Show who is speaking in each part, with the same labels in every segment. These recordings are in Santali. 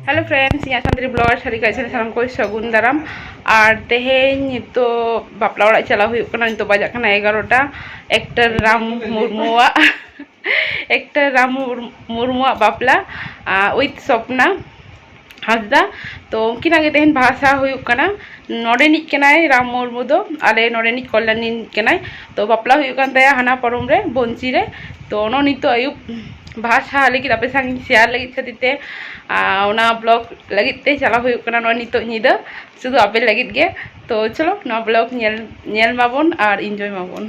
Speaker 1: ᱦᱮᱞᱳ ᱯᱷᱨᱮᱱᱰᱥ ᱤᱧᱟᱹᱜ ᱥᱟᱱᱛᱟᱲᱤ ᱵᱞᱚᱜᱟᱨ ᱥᱟᱹᱨᱤ ᱠᱟᱡ ᱪᱮᱱᱮᱞ ᱥᱟᱱᱟᱢ ᱠᱚ ᱥᱟᱹᱜᱩᱱ ᱫᱟᱨᱟᱢ ᱟᱨ ᱛᱮᱦᱮᱧ ᱱᱤᱛᱚᱜ ᱵᱟᱯᱞᱟ ᱚᱲᱟᱜ ᱪᱟᱞᱟᱣ ᱦᱩᱭᱩᱜ ᱠᱟᱱᱟ ᱱᱤᱛᱚᱜ ᱵᱟᱡᱟᱜ ᱠᱟᱱᱟ ᱮᱜᱟᱨᱚᱴᱟ ᱮᱠᱴᱟᱨ ᱨᱟᱢ ᱢᱩᱨᱢᱩᱣᱟᱜ ᱮᱠᱴᱟᱨ ᱨᱟᱢ ᱢᱩᱨᱢᱩᱣᱟᱜ ᱵᱟᱯᱞᱟ ᱩᱭᱤᱛᱷ ᱥᱚᱯᱱᱟ ᱦᱟᱸᱥᱫᱟ ᱛᱚ ᱩᱱᱠᱤᱱᱟᱜ ᱜᱮ ᱛᱮᱦᱮᱧ ᱵᱟᱦᱟ ᱥᱟᱦᱟ ᱦᱩᱭᱩᱜ ᱠᱟᱱᱟ ᱱᱚᱰᱮᱱᱤᱡ ᱠᱟᱱᱟᱭ ᱨᱟᱢ ᱢᱩᱨᱢᱩ ᱫᱚ ᱟᱞᱮ ᱱᱚᱰᱮᱱᱤᱡ ᱠᱚᱞᱞᱟᱱᱤ ᱠᱟᱱᱟᱭ ᱛᱚ ᱵᱟᱯᱞᱟ ᱦᱩᱭᱩᱜ ᱠᱟᱱ ᱛᱟᱭᱟ ᱦᱟᱱᱟ ᱯᱚᱨᱚᱢ ᱨᱮ ᱵᱚᱱᱪᱤ ᱨᱮ ᱛᱚ ᱚᱱᱟ ᱱᱤᱛᱚᱜ ᱟᱹᱭᱩᱵ ᱵᱟᱦᱟ ᱥᱟᱦᱟ ᱞᱟᱹᱜᱤᱫ ᱟᱯᱮ ᱥᱟᱶ ᱥᱮᱭᱟᱨ ᱞᱟᱹᱜᱤᱫ ᱠᱷᱟᱹᱛᱤᱨ ᱛᱮ ᱚᱱᱟ ᱵᱞᱚᱜ ᱞᱟᱹᱜᱤᱫ ᱛᱮ ᱪᱟᱞᱟᱣ ᱦᱩᱭᱩᱜ ᱠᱟᱱᱟ ᱱᱚᱜᱼᱚᱭ ᱱᱤᱛᱚᱜ ᱧᱤᱫᱟᱹ ᱥᱩᱫᱷᱩ ᱟᱯᱮ ᱞᱟᱹᱜᱤᱫ ᱜᱮ ᱛᱚ ᱪᱚᱞᱚ ᱱᱚᱣᱟ ᱵᱞᱚᱜ ᱧᱮᱞ ᱧᱮᱞ ᱢᱟᱵᱚᱱ ᱟᱨ ᱤᱱᱡᱚᱭ ᱢᱟᱵᱚᱱ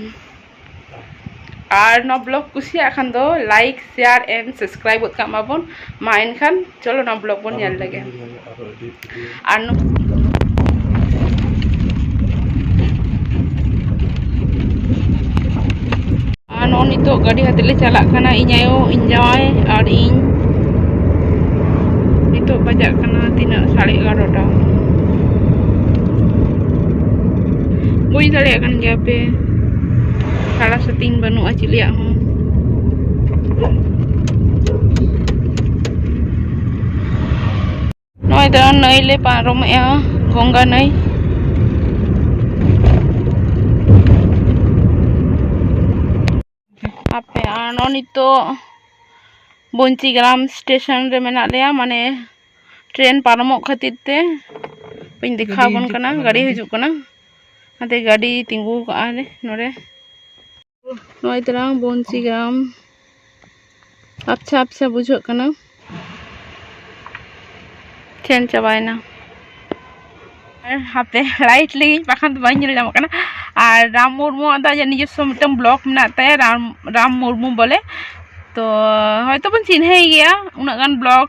Speaker 1: ᱟᱨ ᱱᱚᱣᱟ ᱵᱞᱚᱜ ᱠᱩᱥᱤᱭᱟᱜ ᱠᱷᱟᱱ ᱫᱚ ᱞᱟᱭᱤᱠ ᱥᱮᱭᱟᱨ ᱮᱱᱰ ᱥᱟᱵᱥᱠᱨᱟᱭᱤᱵ ᱜᱚᱫ ᱠᱟᱜ ᱢᱟᱵᱚᱱ ᱢᱟ ᱮᱱᱠᱷᱟᱱ ᱪᱚᱞᱚ ᱱᱚᱣᱟ ᱵᱞᱚᱜ ᱵᱚᱱ ᱧᱮᱞ ᱞᱮᱜᱮ ᱟᱨ ᱟᱨ ᱱᱚᱜᱼᱚ ᱱᱤᱛᱚᱜ ᱜᱟᱹᱰᱤ ᱦᱟᱛᱮ ᱞᱮ ᱪᱟᱞᱟᱜ ᱠᱟᱱᱟ ᱤᱧ ᱟᱭᱳ ᱤᱧ ᱡᱟᱶᱟᱭ ᱟᱨ ᱤᱧ ᱱᱤᱛᱚᱜ ᱵᱟᱡᱟᱜ ᱠᱟᱱᱟ ᱛᱤᱱᱟᱹᱜ ᱥᱟᱲᱮ ᱮᱜᱟᱨᱚᱴᱟ ᱵᱩᱡᱽ ᱫᱟᱲᱮᱭᱟᱜ ᱠᱟᱱ ᱜᱮᱭᱟ ᱯᱮ ᱥᱟᱲᱟ ᱥᱟᱹᱛᱤᱧ ᱵᱟᱹᱱᱩᱜᱼᱟ ᱪᱤᱞᱤᱭᱟᱜ ᱦᱚᱸ ᱱᱚᱜᱼᱚᱭ ᱫᱚ ᱱᱟᱹᱭ ᱞᱮ ᱯᱟᱨᱚᱢᱮᱜᱼᱟ ᱜᱚᱝᱜᱟ ᱱᱟᱹᱭ ᱟᱯᱮ ᱟᱨ ᱱᱚᱜᱼᱚᱭ ᱱᱤᱛᱚᱜ ᱵᱚᱧᱪᱤ ᱜᱨᱟᱢ ᱥᱴᱮᱥᱚᱱ ᱨᱮ ᱢᱮᱱᱟᱜ ᱞᱮᱭᱟ ᱢᱟᱱᱮ ᱴᱨᱮᱱ ᱯᱟᱨᱚᱢᱚᱜ ᱠᱷᱟᱹᱛᱤᱨ ᱛᱮ ᱵᱟᱹᱧ ᱫᱮᱠᱷᱟᱣ ᱟᱵᱚᱱ ᱠᱟᱱᱟ ᱜᱟᱹᱰᱤ ᱦᱤᱡᱩᱜ ᱠᱟᱱᱟ ᱚᱱᱟᱛᱮ ᱜᱟᱹᱰᱤ ᱛᱤᱸᱜᱩ ᱠᱟᱜᱼᱟ ᱞᱮ ᱱᱚᱰᱮ ᱱᱚᱜᱼᱚᱭ ᱛᱟᱨᱟᱝ ᱵᱚᱧᱪᱤ ᱜᱨᱟᱢ ᱟᱯᱪᱷᱟ ᱟᱯᱪᱷᱟ ᱵᱩᱡᱷᱟᱹᱜ ᱠᱟᱱᱟ ᱪᱮᱱ ᱪᱟᱵᱟᱭᱮᱱᱟ ᱦᱟᱯᱮ ᱞᱟᱭᱤᱴ ᱞᱟᱹᱜᱤᱫ ᱵᱟᱠᱷᱟᱱ ᱫᱚ ᱵᱟᱹᱧ ᱧᱮᱞ ᱧᱟᱢᱚᱜ ᱠᱟᱱᱟ ᱟᱨ ᱨᱟᱢ ᱢᱩᱨᱢᱩᱣᱟᱜ ᱫᱚ ᱟᱡᱟᱜ ᱱᱤᱡᱚᱥᱥᱚ ᱢᱤᱫᱴᱟᱝ ᱵᱞᱚᱜ ᱢᱮᱱᱟᱜ ᱛᱟᱭᱟ ᱨᱟᱢ ᱨᱟᱢ ᱢᱩᱨᱢᱩ ᱵᱚᱞᱮ ᱛᱚ ᱦᱚᱭᱛᱚ ᱵᱚᱱ ᱪᱤᱱᱦᱟᱹᱭ ᱜᱮᱭᱟ ᱩᱱᱟᱹᱜ ᱜᱟᱱ ᱵᱞᱚᱜ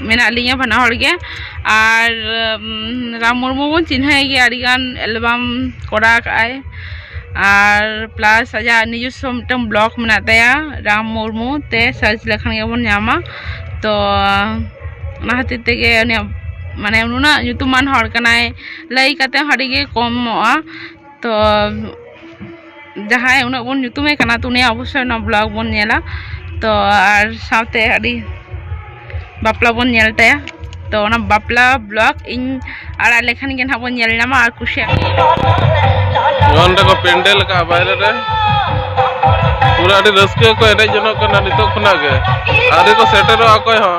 Speaker 1: ᱢᱮᱱᱟᱜ ᱞᱤᱧᱟᱹ ᱵᱟᱱᱟ ᱦᱚᱲ ᱜᱮ ᱟᱨ ᱨᱟᱢ ᱢᱩᱨᱢᱩ ᱵᱚᱱ ᱪᱤᱱᱦᱟᱹᱣᱮ ᱜᱮᱭᱟ ᱟᱹᱰᱤ ᱜᱟᱱ ᱮᱞᱵᱟᱢ ᱠᱚᱨᱟᱣ ᱟᱠᱟᱫ ᱟᱭ ᱟᱨ ᱯᱞᱟᱥ ᱟᱭᱟᱜ ᱱᱤᱡᱚᱥᱥᱚ ᱢᱤᱫᱴᱟᱝ ᱵᱞᱚᱠ ᱢᱮᱱᱟᱜ ᱛᱟᱭᱟ ᱨᱟᱢ ᱢᱩᱨᱢᱩ ᱛᱮ ᱥᱟᱨᱪ ᱞᱮᱠᱷᱟᱱ ᱜᱮᱵᱚᱱ ᱧᱟᱢᱟ ᱛᱚ ᱚᱱᱟ ᱠᱷᱟᱹᱛᱤᱨ ᱛᱮᱜᱮ ᱩᱱᱤᱭᱟᱜ ᱢᱟᱱᱮ ᱱᱩᱱᱟᱹᱜ ᱧᱩᱛᱩᱢᱟᱱ ᱦᱚᱲ ᱠᱟᱱᱟᱭ ᱞᱟᱹᱭ ᱠᱟᱛᱮᱫ ᱦᱚᱸ ᱟᱹᱰᱤᱜᱮ ᱠᱚᱢᱚᱜᱼᱟ ᱛᱚ ᱡᱟᱦᱟᱸᱭ ᱩᱱᱟᱹᱜ ᱵᱚᱱ ᱧᱩᱛᱩᱢᱮ ᱠᱟᱱᱟ ᱛᱚ ᱩᱱᱤᱭᱟᱜ ᱚᱵᱚᱥᱥᱳᱭ ᱱᱚᱣᱟ ᱵᱞᱚᱜᱽ ᱵᱚᱱ ᱧᱮᱞᱟ ᱛᱚ ᱟᱨ ᱥᱟᱶᱛᱮ ᱟᱹᱰᱤ ᱵᱟᱯᱞᱟ ᱵᱚᱱ ᱧᱮᱞ ᱛᱟᱭᱟ ᱛᱚ ᱚᱱᱟ ᱵᱟᱯᱞᱟ ᱵᱞᱚᱜᱽ ᱤᱧ ᱟᱲᱟᱜ ᱞᱮᱠᱷᱟᱱ ᱜᱮ ᱱᱟᱦᱟᱜ ᱵᱚᱱ ᱧᱮᱞ ᱧᱟᱢᱟ ᱟᱨ ᱠᱩᱥᱤᱭᱟᱜ ᱱᱚᱸᱰᱮ ᱠᱚ ᱯᱮᱱᱰᱮᱞ ᱟᱠᱟᱫᱼᱟ ᱵᱟᱭᱨᱮ
Speaker 2: ᱨᱮ ᱯᱩᱨᱟᱹ ᱟᱹᱰᱤ ᱨᱟᱹᱥᱠᱟᱹ ᱠᱚ ᱮᱱᱮᱡ ᱡᱚᱱᱚᱜ ᱠᱟᱱᱟ ᱱᱤᱛᱚᱜ ᱠᱷᱚᱱᱟᱜ ᱜᱮ ᱟᱹᱣᱨᱤ ᱠᱚ ᱥᱮᱴᱮᱨᱚᱜᱼᱟ ᱚᱠᱚᱭ ᱦᱚᱸ